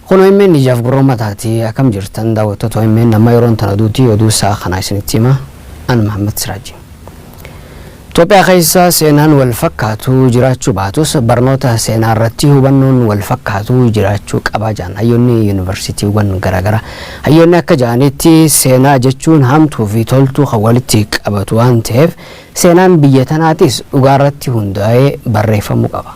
Kun omn ijaaf gurra ummataati akkam jirtan daawwattoota omn amma yeroon tana duuti oduu sa'a kanaa isinitti hima an Mahammad Siraaji. Itoophiyaa keessa seenaan wal fakkaatu jiraachuu baatus barnoota seenaa irratti hubannoon wal fakkaatu jiraachuu qaba jaan hayyoonni yuunivarsiitiiwwan garaagara hayyoonni akka ja'anitti seenaa jechuun hamtuu fi toltuu kan walitti qabatu waan ta'eef seenaan biyya tanaatis dhugaa irratti hundaa'ee barreeffamuu qaba.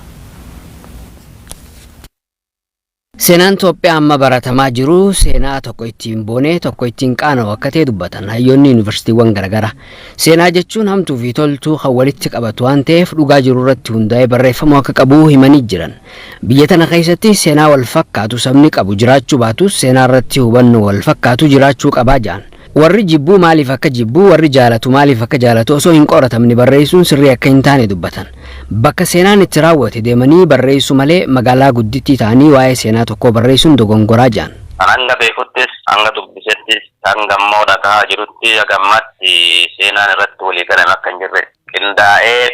Seenaan Toophiyaa amma baratamaa jiru seenaa tokko ittiin boonee tokko ittiin qaana'u akka ta'e dubbatan hayyoonni yuunivarsiitiiwwan garaagaraa. Seenaa jechuun hamtuu fi toltuu kan walitti qabatu waan ta'eef dhugaa jiru irratti hundaa'ee barreeffamuu akka qabu himanii jiran. Biyya tana keessatti seenaa wal fakkaatu sabni qabu jiraachuu baatus seenaa irratti hubannoo wal fakkaatu jiraachuu qabaa jedhan. Warri jibbu maaliif akka jibbu, warri jaalatu maaliif akka jaalatu osoo hin qoratamne barreessuun sirrii akka hin taane dubbatan. Bakka seenaan itti raawwate deemanii barreessuu malee magaalaa guddittii ta'anii waa'ee seenaa tokkoo barreessuun dogongoraa jedhan. An hanga beekuttis, hanga dubbisettis, hangammoo dhagahaa jirutti haga ammaatti seenaan irratti walii galame akka hin jirre, qindaa'ee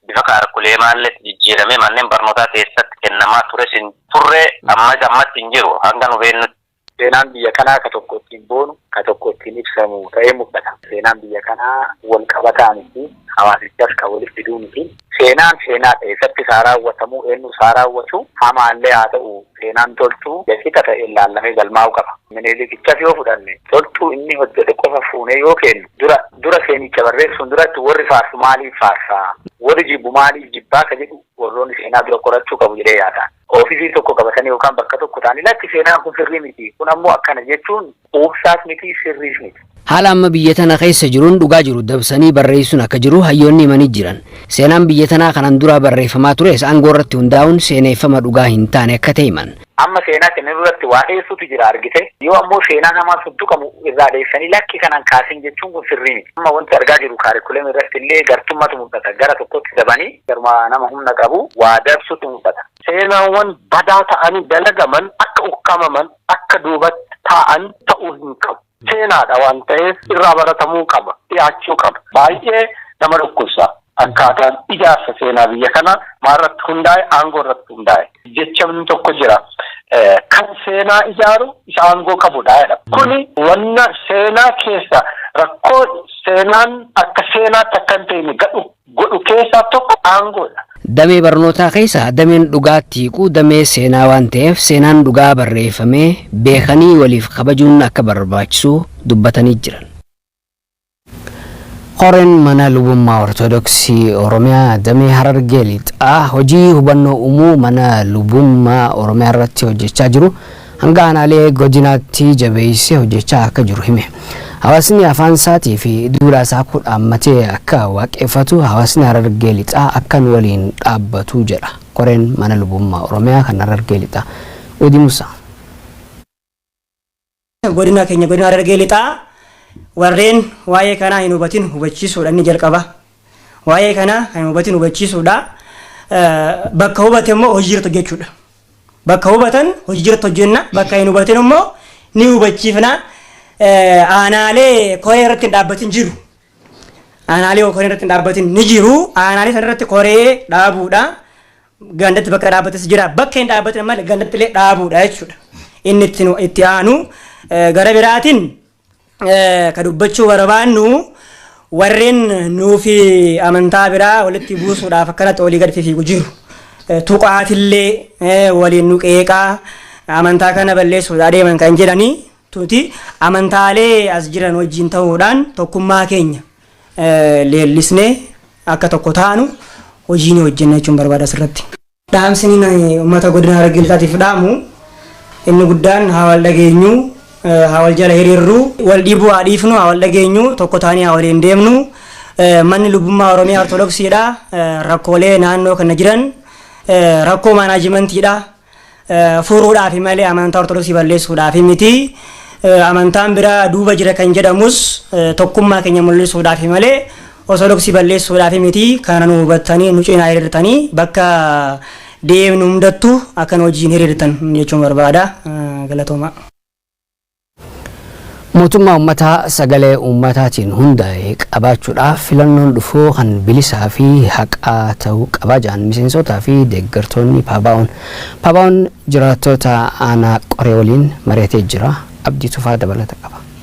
bifa kaarkuleemaalleetti jijjiiramee manneen barnootaa keessatti kennamaa tures hin turre, ammas ammatti hin jiru hanga nu beeknutti. Seenaan biyya kanaa ka tokko ittiin boonu, ka tokko ittiin ibsamu ta'ee mul'ata. Seenaan biyya kanaa wal qabataa miti, hawaasichas ka wali fiduu miti. Seenaan seenaadha, eessattis haa raawwatamu, eennus haa raawwatu, hamaallee haa ta'u, seenaan Toltuu ija qixa ta'een laallamee galmaa'uu qaba. Minilikichas yoo fudhanne, Toltuu inni hojjete qofa fuunee yoo keennu, dura dura seenicha barreessuun duratti warri faarsu maaliif faarsa, warri jibbu maaliif jibba ka jedhu warroonni seenaa dura qorachuu qabu jedhee yaada. oofisii tokko qabatanii yookaan bakka tokko ta'anii lakki seenaan kun sirrii miti, kun ammoo akkana jechuun quubsaas miti, sirriis miti. Haala amma biyya tana keessa jiruun dhugaa jiru dabsanii barreessuun akka jiru hayyoonni himanii jiran. Seenaan biyya tanaa kanan duraa barreeffamaa tures aangoo irratti hundaa'uun seeneeffama dhugaa hin taane akka ta'e himan. Amma seenaa kenninuu irratti waa dheessuutu jira argite, yoo ammoo seenaan hamaan sun tuqamu irraa dheessanii lakki kana hin kaasin jechuun kun sirrii miti. Amma wanti argaa jirru kaarikulamii irratti illee gartummatu mul'ata, gara tokkotti dabanii Garuma nama humna qabu waa dabsutu mul'ata. Seenaawwan badaa ta'anii dalagaman akka ukkamaman, akka duubatti taa'an ta'uu hin qabu. Seenaadha waan ta'eef irraa baratamuu qaba, dhiyaachuu qaba. Baay'ee nama dhukkubsa akkaataan ijaarsa seenaa biyya kanaa maalirratti hundaa'e? Aangoo irratti hundaa'e. Jechamni tokko jira, Kan seenaa ijaaru isa aangoo qabudha jedhama. Kuni wanna seenaa keessa rakkoo seenaan akka seenaatti akka hin teene gadhu godhu keessaa tokko aangoodha. Damee barnootaa keessa dameen dhugaatti hiiku damee seenaa waan ta'eef seenaan dhugaa barreeffamee beekanii waliif kabajuun akka barbaachisu dubbatanii jiran. Koreen Mana Lubummaa Ortodoksii Oromiyaa Damee Harargee Lixaa hojii hubannoo uumuu mana lubummaa Oromiyaa irratti hojjechaa jiru hanga aanaalee godinaatti jabeessee hojjechaa akka jiru hime. Hawaasni afaan isaatii fi duudhaa isaa kuu dhaammatee akka waaqeffatu hawaasni Harargee Lixaa akka nu waliin dhaabbatu jedha koreen mana lubummaa Oromiyaa kan Harargee Lixaa. Wedi Musa. Godina keenya godina Harargee Lixaa warreen waa'ee kanaa hin hubatin hubachiisuudha inni jalqaba. Waa'ee kanaa kan hin hubatin hubachiisuudha. Bakka hubate immoo hojiirra hojjechuudha. Bakka hubatan hojii jirutti hojjenna, bakka hin hubatin immoo ni hubachiifna. Aanaalee koree irratti hin dhaabbatin jiru. Aanaalee koree irratti hin dhaabbatin ni jiru. Aanaalee sana irratti koree dhaabuudha. Gandatti bakka dhaabbates jira. Bakka hin dhaabbatin ammallee gandatti illee dhaabuudha jechuudha. Inni itti aanu gara biraatiin ka dubbachuu barbaannu warreen nuufi amantaa biraa walitti buusuudhaaf akkanatti olii gad fifiigu jiru. Tuqaatillee waliin nu qeeqaa amantaa kana balleessuuf adeeman kan jedhanii tuti amantaalee as jiran wajjin ta'uudhaan tokkummaa keenya leellisnee akka tokko taanu hojii ni hojjenna jechuun barbaada asirratti. Dhaamsini ani ummata Godina Harargee Lixaatiif dhaamu inni guddaan haa wal dhageenyu, haa wal jala hiriirru, wal dhiibuu haa dhiifnu, haa wal dhageenyu, tokko taanee haa waliin deemnu, manni lubummaa Oromiyaa Ortodoksiidha, rakkoolee naannoo kana jiran rakkoo maanaajimantiidha, furuudhaafi malee amantaa Ortodoksii balleessuudhaafi miti, amantaan biraa duuba jira kan jedhamus tokkummaa keenya mul'isuudhaafi malee Orthodox balleessuudhaafi miti kana nu hubattanii nu cinaa hiriirtanii bakka deemnu hundattu akka nu wajjiin hiriirtan jechuun barbaada. Galatoomaa. Mootummaa ummataa sagalee ummataatiin hundaa'e qabaachuudhaaf filannoon dhufu kan bilisaa fi haqaa ta'uu qaba jedhan miseensotaa fi deeggartoonni Paabaa'oon. Paabaa'oon jiraattoota aanaa Qoree waliin mari'atee jira. Abdii Tufaa dabalata qaba.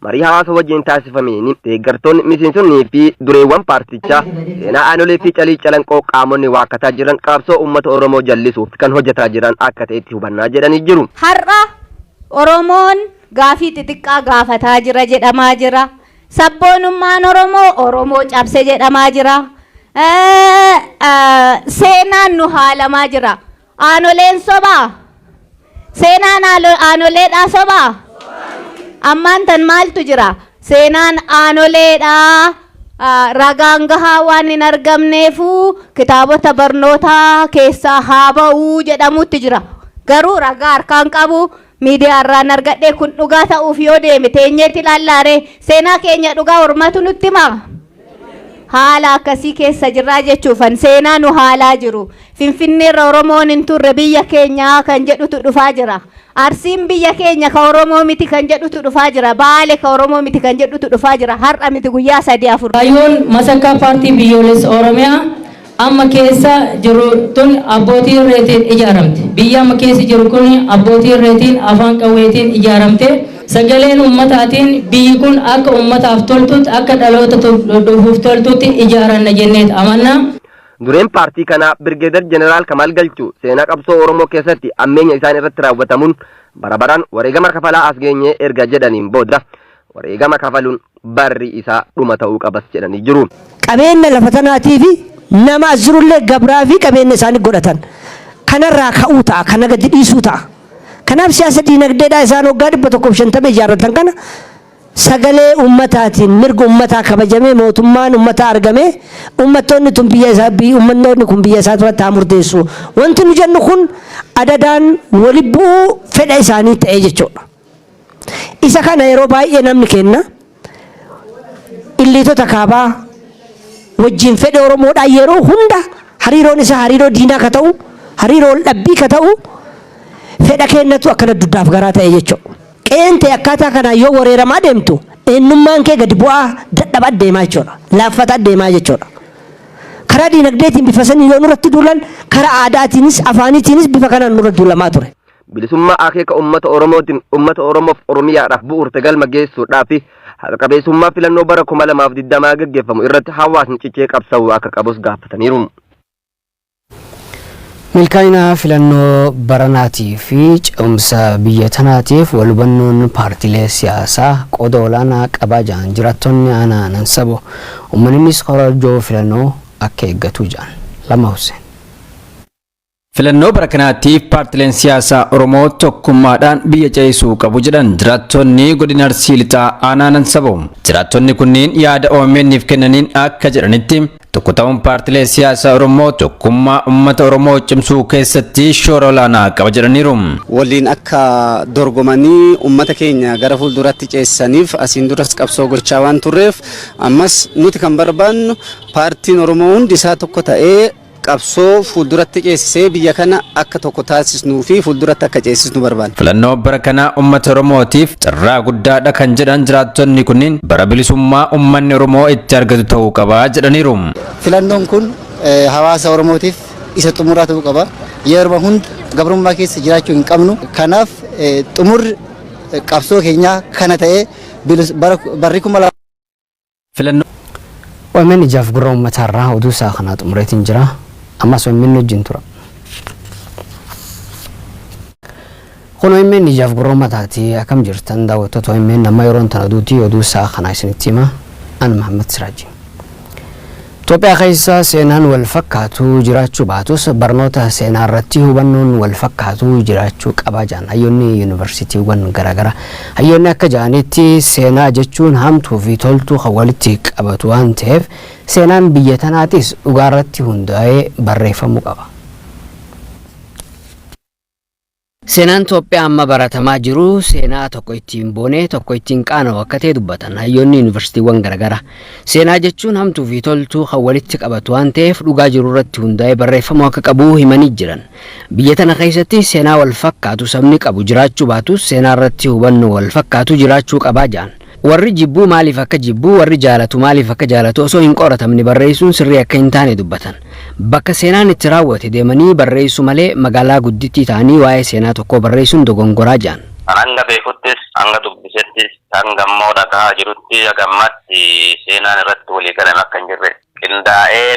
Marii hawaasa wajjin taasifameen deeggartoonni, miseensonnii fi dureewwan paartichaa seenaa aanolee fi calii calanqoo qaamonni waakkataa jiran qabsoo uummata Oromoo jallisuuf kan hojjetaa jiran akka ta'etti hubanna jedhanii jiru. Har'a Oromoon gaafii xixiqqaa gaafataa jira jedhamaa jira. Sabboonummaan Oromoo Oromoo cabse jedhamaa jira. Seenaan nu haalamaa jira. Aanoleen sobaa? Seenaan aalo- aanoleedhaa sobaa? Ammaan tan maaltu jira? Seenaan aanoleedhaa ah, ragaan gahaa waan hin argamneefuu kitaabota barnootaa keessaa haa ba'uu jedhamutti jira. Garuu ragaa harkaan qabu Miidiyaa irraan argadhee kun dhugaa ta'uuf yoo deeme teenyeet ilaallaa ree? Seenaa keenya dhugaa ormatu nutti himaa? Haala akkasii keessa jirraa jechuufan seenaa nu haalaa jiru. Finfinneerra Oromoon hin turre biyya keenyaa kan jedhutu dhufaa jira. Arsiin biyya keenya ka Oromoo miti kan jedhutu dhufaa jira. Baale ka Oromoo miti kan jedhutu dhufaa jira. Har'a miti guyyaa sadii afur. Kaayyoon masakkaa Paartii Biyyoolessa Oromiyaa amma keessa jirru tun abbootii irreetiin ijaaramte. Biyyi amma keessa jirru kun abbootii irreetiin, afaan qawweetiin ijaaramte. Sagaleen ummataatiin biyyi kun akka ummataaf toltutti, akka dhaloota dhufuuf toltutti ijaaranna jenneet amanna. Dureen paartii kanaa Birgeedar Jeneraal Kamaal Galchuu seenaa qabsoo Oromoo keessatti ammeenya isaan irratti raawwatamuun bara baraan wareegama kafalaa as geenye erga jedhaniin booda, Wareegama kafaluun barri isaa dhuma ta'uu qabas jedhanii jiru. Qabeenya lafa tanaatii fi nama as jirullee gabraa fi qabeenya isaanii godhatan. Kanarraa ka'uu ta'a, kana gadi dhiisuu ta'a. Kanaaf siyaasa diinagdeedhaa isaan waggaa 150 ijaarratan kana sagalee ummataatiin mirga ummataa kabajamee mootummaan ummataa argamee ummattoonni tun biyya isaa biyyi ummannoonni kun biyya isaa turatti haa murteessu. Wanti nu jennu kun adadaan wali bu'uu fedha isaanii ta'ee jechuudha. Isa kana yeroo baay'ee namni keenna illiitota kaabaa wajjiin fedha Oromoodhaan yeroo hunda hariiroon isaa hariiroo diinaa ka ta'u, hariiroo wal dhabbii ka ta'u fedha keennatu akkana duddaaf garaa ta'e jechuudha. Qe'een tee akkaataa kanaan yoo wareeramaa deemtu eennummaan kee gadi bu'aa, dadhabaa deemaa jechuudha. Laaffataa deemaa jechuudha. Karaa diinagdeetiin bifa saniin yoo nurratti duulan karaa aadaatiinis, afaaniitiinis bifa kanaan nurra duulamaa ture. Bilisummaa akeeka ummata Oromootiin ummata Oromoof Oromiyaadhaaf bu'uurte galma geessuudhaafi haqa qabeessummaa filannoo bara 2020 gaggeeffamu irratti hawaasni cichee qabsa'uu akka qabus gaafataniiru. Milkaa'ina filannoo baranaatii fi ce'umsa biyya tanaatiif wal hubannoon paartiilee siyaasaa qooda olaanaa qabaa jedhan jiraattonni aanaa Nansabo. Uummannis korojoo filannoo akka eeggatu jedhan. Lama Hussein. Filannoo bara kanaatiif paartileen siyaasaa Oromoo tokkummaadhaan biyya ceesisuu qabu jedhan jiraattonni godina Arsii Lixaa aanaa Nansaboo. Jiraattonni kunniin yaada OMN'f kennaniin akka jedhanitti tokko ta'uun paartilee siyaasaa Oromoo tokkummaa uummata Oromoo cimsuu keessatti shoora olaanaa qaba jedhaniiru. waliin akka dorgomanii ummata keenya gara fuulduratti ceessaniif asiin duras qabsoo gochaa waan turreef ammas nuti kan barbaannu paartiin Oromoo hundi isaa tokko ta'ee Qabsoo fuulduratti ceesisee biyya kana akka tokko taasisnuu fi fuulduratti akka ceesisnu barbaanna. Filannoo bara kanaa ummata Oromootiif carraa guddaadha kan jedhan jiraattonni kunniin bara bilisummaa ummanni Oromoo itti argatu ta'uu qaba jedhaniiru. Filannoon kun hawaasa Oromootiif isa xumuraa ta'uu qaba. Yeruma hunda gabrummaa keessa jiraachuu hin qabnu. Kanaaf xumurri qabsoo keenyaa kana ta'ee barri kuma Filannoo. Omn ijaaf gurra uummataa irraa oduu isaa kanaa xumureetiin jira. Ammas omn wajjin tura. Kun omn ijaaf gurra uummataati akkam jirtan daawwattoota omn amma yeroon tan oduuti oduu isaa kanaa isinitti hima. An Mahammad Siraajii. Itoophiyaa keessa seenaan walfakkaatu jiraachuu baatus barnoota seenaarratti hubannoon walfakkaatu jiraachuu qaba jedhan hayyoonni yunivarsiitiiwwan garaagara. Hayyoonni akka jedhanitti seenaa jechuun hamtuufi toltuu kan walitti qabatu waan ta'eef seenaan biyya tanaatis dhugaarratti hundaa'ee barreeffamuu qaba. Seenaan Toophiyaa amma baratamaa jiru seenaa tokko ittiin boonee tokko ittiin qaana'u akka ta'e dubbatan hayyoonni yuunivarsiitiiwwan garaagaraa. Seenaa jechuun hamtuu fi toltuu kan walitti qabatu waan ta'eef dhugaa jiru irratti hundaa'ee barreeffamuu akka qabu himanii jiran. Biyya tana keessatti seenaa wal fakkaatu sabni qabu jiraachuu baatus seenaa irratti hubannoo wal fakkaatu jiraachuu qabaa jedhan. Warri jibbu maaliif akka jibbu, warri jaalatu maaliif akka jaalatu osoo hin qoratamne barreessuun sirrii akka hin taane dubbatan. Bakka seenaan itti raawwate deemanii barreessuu malee magaalaa guddittii ta'anii waa'ee seenaa tokkoo barreessuun dogongoraa jedhan. Kan hanga beekuttis, hanga dubbisettis, hanga immoo dhagahaa jirutti haga ammaatti seenaan irratti walii galame akka hin jirre, qindaa'ee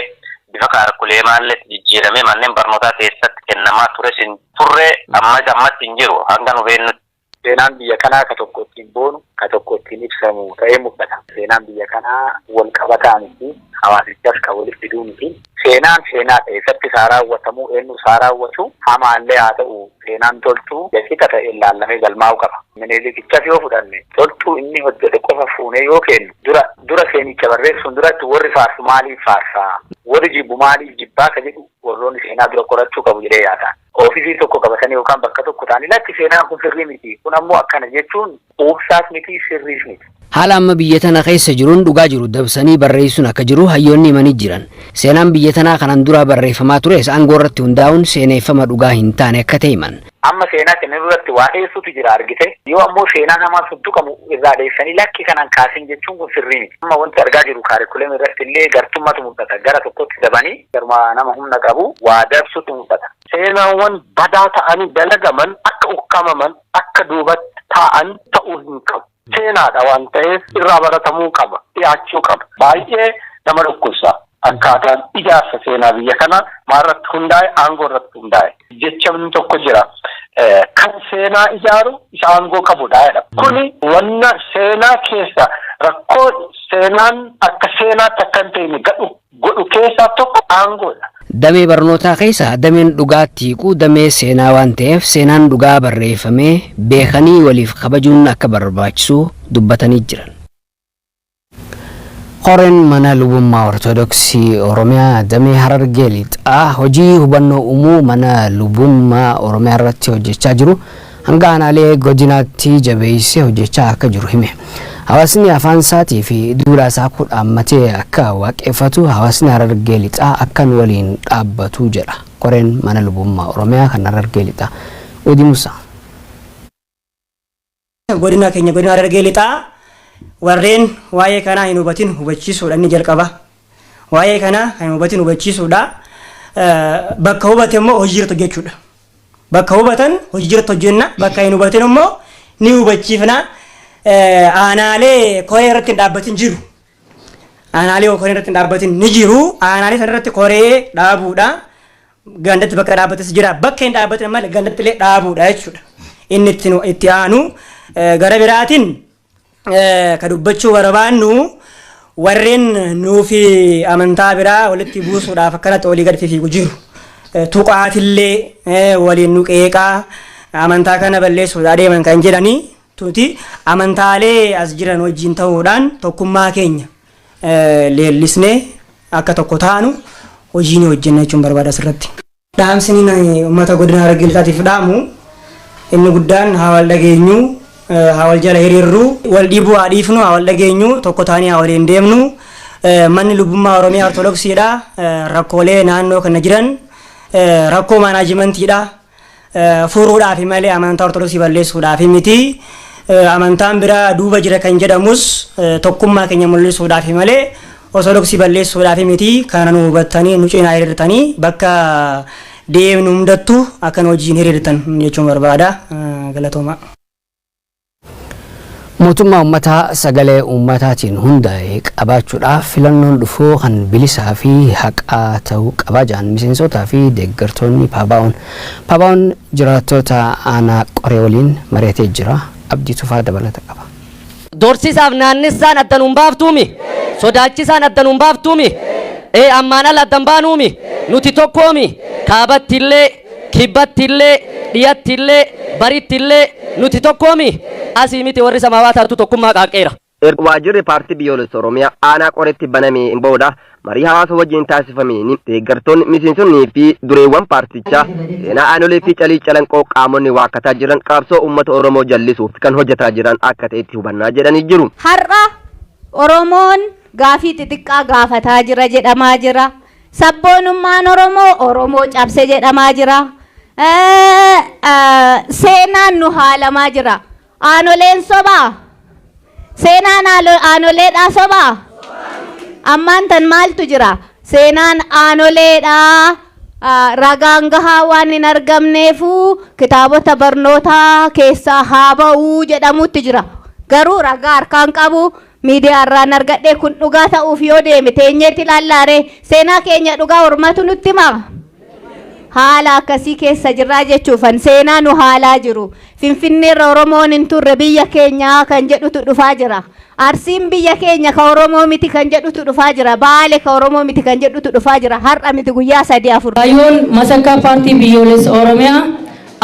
bifa kaarkuleemaalleetti jijjiiramee manneen barnootaa keessatti kennamaa tures hin turre, ammas ammatti hin jiru hanga nu beeknutti. Seenaan biyya kanaa ka tokko ittiin boonu, ka tokko ittiin ibsamu ta'ee mul'ata. Seenaan biyya kanaa wal qabataa miti, hawaasichas ka walitti fiduu miti. Seenaan seenaa ta'e isatti isaa raawwatamu, eennu isaa raawwatu, hamaa illee haa ta'u, seenaan Toltuu walqixa ta'een laallamee galmaa'uu qaba. Minilikichas yoo fudhanne, Toltuu inni hojjete qofa fuunee yoo keennu, dura dura seenicha barreessuun duratti warri faarsu maaliif faarsaa, warri jibbu maaliif jibbaa ka jedhu warroonni seenaa dura qorachuu qabu jedhee yaadaan. oofisii tokko qabatanii yookaan bakka tokko ta'anii lakki seenaan kun sirrii miti, kun ammoo akkana jechuun quubsaas miti, sirriis miti. Haala amma biyya tana keessa jiruun dhugaa jiru dabsanii barreessuun akka jiru hayyoonni himanii jiran. Seenaan biyya tanaa kanaan duraa barreeffamaa tures aangoo irratti hundaa'uun seeneeffama dhugaa hin taane akka ta'e himan. Amma seenaa kennan irratti waa dheessuutu jira argite, yoo ammoo seenaan hamaan sun tuqamu irraa dheessanii lakki kana hin kaasin jechuun kun sirrii miti. Amma wanti argaa jirru kaarikulamii irratti illee gartummatu mul'ata, gara tokkotti dabanii Garuma nama humna qabu waa dabsutu mul'ata. Seenaawwan badaa ta'anii dalagaman akka ukkamaman, akka duubatti taa'an ta'uu hin qabu. Seenaadha waan ta'eef irraa baratamuu qaba, dhiyaachuu qaba. Baay'ee nama dhukkubsa akkaataan ijaarsa seenaa biyya kanaa maalirratti hundaa'e? Aangoo irratti hundaa'e. Jechamni tokko jira, Kan seenaa ijaaru isa aangoo qabudha jedhama. Kuni wanna seenaa keessa rakkoo seenaan akka seenaatti akka hin teene gadhu godhu keessaa tokko aangoodha. Damee barnootaa keessa dameen dhugaatti hiiku damee seenaa waan ta'eef seenaan dhugaa barreeffamee beekanii waliif kabajuun akka barbaachisu dubbatanii jiran. Koreen Mana Lubummaa Ortodoksii Oromiyaa Damee Harargee Lixaa hojii hubannoo uumuu Mana Lubummaa Oromiyaarratti hojjechaa jiru hanga aanaalee godinaatti jabeessee hojjechaa akka jiru hime. Hawaasni afaan isaatii fi duudhaa isaa akka dhaammatee akka waaqeffatu hawaasni Harargee Lixaa akka nu waliin dhaabbatu jedha koreen mana lubummaa Oromiyaa kan Harargee Lixaa. Udi Musaa. Godina keenya godina Harargee Lixaa warreen waa'ee kanaa hin hubatin hubachiisuudha inni jalqaba. Waa'ee kanaa kan hin hubatin hubachiisuudha. Bakka hubate immoo hojii irratti hojjechuudha. Bakka hubatan hojii irratti hojjenna. Bakka hin hubatin immoo ni hubachiifna. Aanaalee koree irratti hin dhaabbatin jiru. Aanaalee koree irratti hin dhaabbatin ni jiru. Aanaalee sana irratti koree dhaabuudha. Gandatti bakka dhaabbates jira. Bakka hin dhaabbatin ammallee gandatti illee dhaabuudha jechuudha. Inni itti aanu gara biraatiin ka dubbachuu barbaannu warreen nuufi amantaa biraa walitti buusuudhaaf akkanatti olii gad fifiigu jiru. Tuqaatillee waliin nu qeeqaa amantaa kana balleessuuf adeeman kan jedhanii tuti amantaalee as jiran wajjin ta'uudhaan tokkummaa keenya leellisnee akka tokko taanu hojii ni hojjenna jechuun barbaada asirratti. Dhaamsini ani ummata godina Harargee Lixaatiif dhaamu inni guddaan haa wal dhageenyu, haa wal jala hiriirru, wal dhiibuu haa dhiifnu, haa wal dhageenyu, tokko taanee haa waliin deemnu, manni lubbummaa Oromiyaa Ortodoksiidha, rakkoolee naannoo kana jiran rakkoo maanaajimantiidha, furuudhaafi malee amantaa Ortodoksii balleessuudhaafi miti, amantaan biraa duuba jira kan jedhamus tokkummaa keenya mul'isuudhaafi malee Osodoksii balleessuudhaaf miti kana nu hubattanii nu cinaa hiriirtanii bakka deemnu hundattu akka nu wajjiin hiriirtan jechuun barbaada. Galatoomaa. Mootummaa ummataa sagalee ummataatiin hundaa'e qabaachuudhaaf filannoon dhufu kan bilisaa fi haqaa ta'uu qaba jedhan miseensootaa fi deeggartoonni Paabaa'oon. Paabaa'oon jiraattoota aanaa Qoree waliin mari'atee jira. Abdii Tufaa dabalata qaba. Dorsisaaf naannessaan adda nuun baaftuumi? Sodaachisaan adda nuun baaftuumi? Ee ammaan ala addan baanuumi? Nuti tokkoomi? Kaabatti illee, kibbatti illee, dhiyatti illee, baritti illee nuti tokkoomi? Asii miti warri samaawaa taatu tokkummaa qaaqqeera. Erga waajjirri Paartii Biyyoolessa Oromiyaa aanaa Qoreetti banameen booda Marii hawaasa wajjin taasifameen deeggartoonni, miseensonnii fi dureewwan paartichaa seenaa aanolee fi calii calanqoo qaamonni waakkataa jiran qabsoo uummata Oromoo jallisuuf kan hojjetaa jiran akka ta'etti hubanna jedhanii jiru. Har'a Oromoon gaafii xixiqqaa gaafataa jira jedhamaa jira. Sabboonummaan Oromoo Oromoo cabse jedhamaa jira. Seenaan nu haalamaa jira. Aanoleen sobaa? Seenaan aalo- aanoleedhaa sobaa? Ammaan tan maaltu jira? Seenaan aanoleedhaa ah, ragaan gahaa waan hin argamneefuu kitaabota barnootaa keessaa haa ba'uu jedhamutti jira. Garuu ragaa harkaan qabu Miidiyaa irraan argadhe kun dhugaa ta'uuf yoo deeme teenyeetti ilaallaaree seenaa keenya dhugaa ormatu nutti himaa? Haala akkasii keessa jirraa jechuufan seenaa nu haalaa jiru. Finfinneerra Oromoon hin turre biyya keenyaa kan jedhutu dhufaa jira. Arsiin biyya keenya ka Oromoo miti kan jedhutu dhufaa jira. Baale ka Oromoo miti kan jedhutu dhufaa jira. Har'a miti guyyaa sadii afur. Kaayyoon masakkaa paartii biyyoolessa Oromiyaa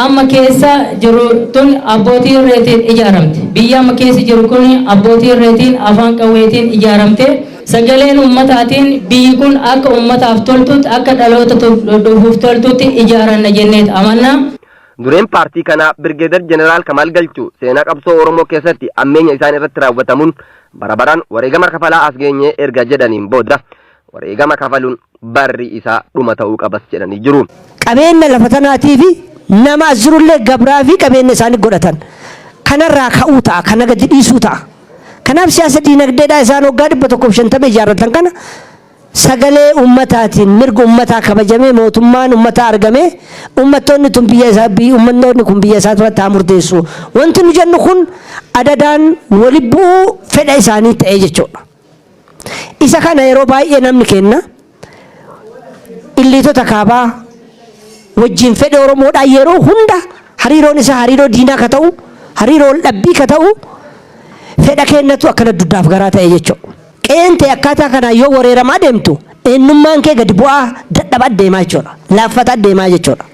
amma keessa jirru tun abbootii irreetiin ijaaramte. Biyyi amma keessa jirru kun abbootii irreetiin, afaan qawweetiin ijaaramte. Sagaleen ummataatiin biyyi kun akka ummataaf toltutti, akka dhaloota dhufuuf toltutti ijaaranna jenneet amanna. Dureen paartii kanaa Birgeedar Jeneraal Kamaal Galchuu seenaa qabsoo Oromoo keessatti ammeenya isaan irratti raawwatamuun bara baraan wareegama kafalaa as geenye erga jedhaniin booda wareegama kafaluun barri isaa dhuma ta'uu qabas jedhanii jiru. Qabeenya lafa tanaatii fi nama as jirullee gabraa fi qabeenya isaanii godhatan. Kanarraa ka'uu ta'a, kana gadi dhiisuu ta'a. Kanaaf siyaasa diinagdeedhaa isaan waggaa 150 ijaarratan kana sagalee ummataatiin mirga ummataa kabajamee mootummaan ummataa argamee ummattoonni tun biyya isaa biyyi ummattoonni kun biyya isaa turatti haa murteessu. Wanti nu jennu kun adadaan wali bu'uu fedha isaanii ta'ee jechuudha. Isa kana yeroo baay'ee namni keenna illiitota kaabaa wajjiin fedha Oromoodhaan yeroo hunda hariiroon isaa hariiroo diinaa ka ta'u, hariiroo wal dhabbii ka ta'u fedha keennatu akkana duddaaf garaa ta'e jechuudha. Qe'een tee akkaataa kanaan yoo wareeramaa deemtu eennummaan kee gadi bu'aa, dadhabaa deemaa jechuudha. Laaffataa deemaa jechuudha.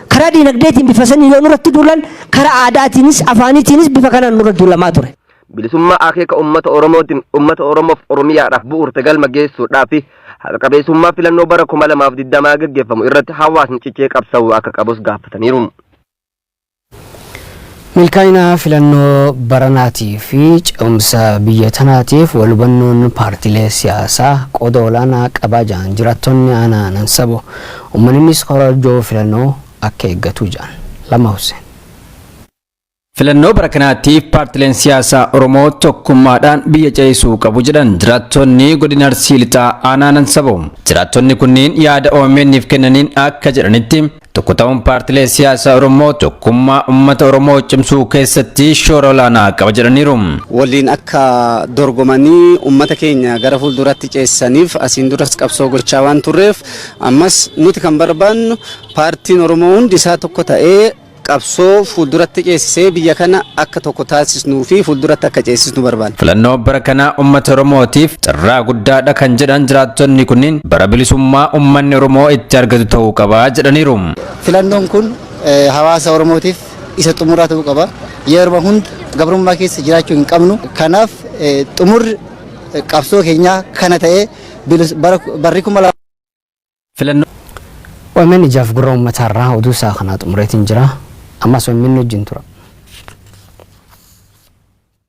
Karaa diinagdeetiin bifa saniin yoo nurratti duulan karaa aadaatiinis, afaaniitiinis bifa kanaan nurra duulamaa ture. Bilisummaa akeeka ummata Oromootiin ummata Oromoof Oromiyaadhaaf bu'uurte galma geessuudhaafi haqa qabeessummaa filannoo bara 2020 gaggeeffamu irratti hawaasni cichee qabsa'uu akka qabus gaafataniiru. Milkaa'ina filannoo baranaatii fi ce'umsa biyya tanaatiif wal hubannoon paartiilee siyaasaa qooda olaanaa qabaa jedhan jiraattonni aanaa Nansabo. Uummannis korojoo filannoo akka eeggatu jedhan. Lamma Husseen. Filannoo bara kanaatiif paartileen siyaasaa Oromoo tokkummaadhaan biyya ceesisuu qabu jedhan jiraattonni godina Arsii Lixaa aanaa Nansaboo. Jiraattonni kunniin yaada OMN'f kennaniin akka jedhanitti tokko ta'uun paartilee siyaasaa Oromoo tokkummaa uummata Oromoo cimsuu keessatti shoora olaanaa qaba jedhaniiru. waliin akka dorgomanii ummata keenya gara fuulduratti ceessaniif asiin duras qabsoo gochaa waan turreef ammas nuti kan barbaannu paartiin Oromoo hundi isaa tokko ta'ee qabsoo fuulduratti ceesisee biyya kana akka tokko taasisnuu fi fuulduratti akka ceesisnu barbaanna. Filannoo bara kanaa uummata Oromootiif carraa guddaadha kan jedhan jiraattonni kunniin bara bilisummaa uummanni Oromoo itti argatu ta'uu qaba jedhaniiru. Filannoon kun eh, hawaasa Oromootiif isa xumuraa ta'uu qaba. Yeroo hunda gabrummaa keessa jiraachuu hin qabnu. Kanaaf eh, xumurri eh, qabsoo keenyaa kana ta'ee bilis- bara- barri kuma lama Filannoo. Omn ijaaf gurra ummataa irraa oduu isaa kanaa xumureetiin jira. Ammas omn wajjin tura.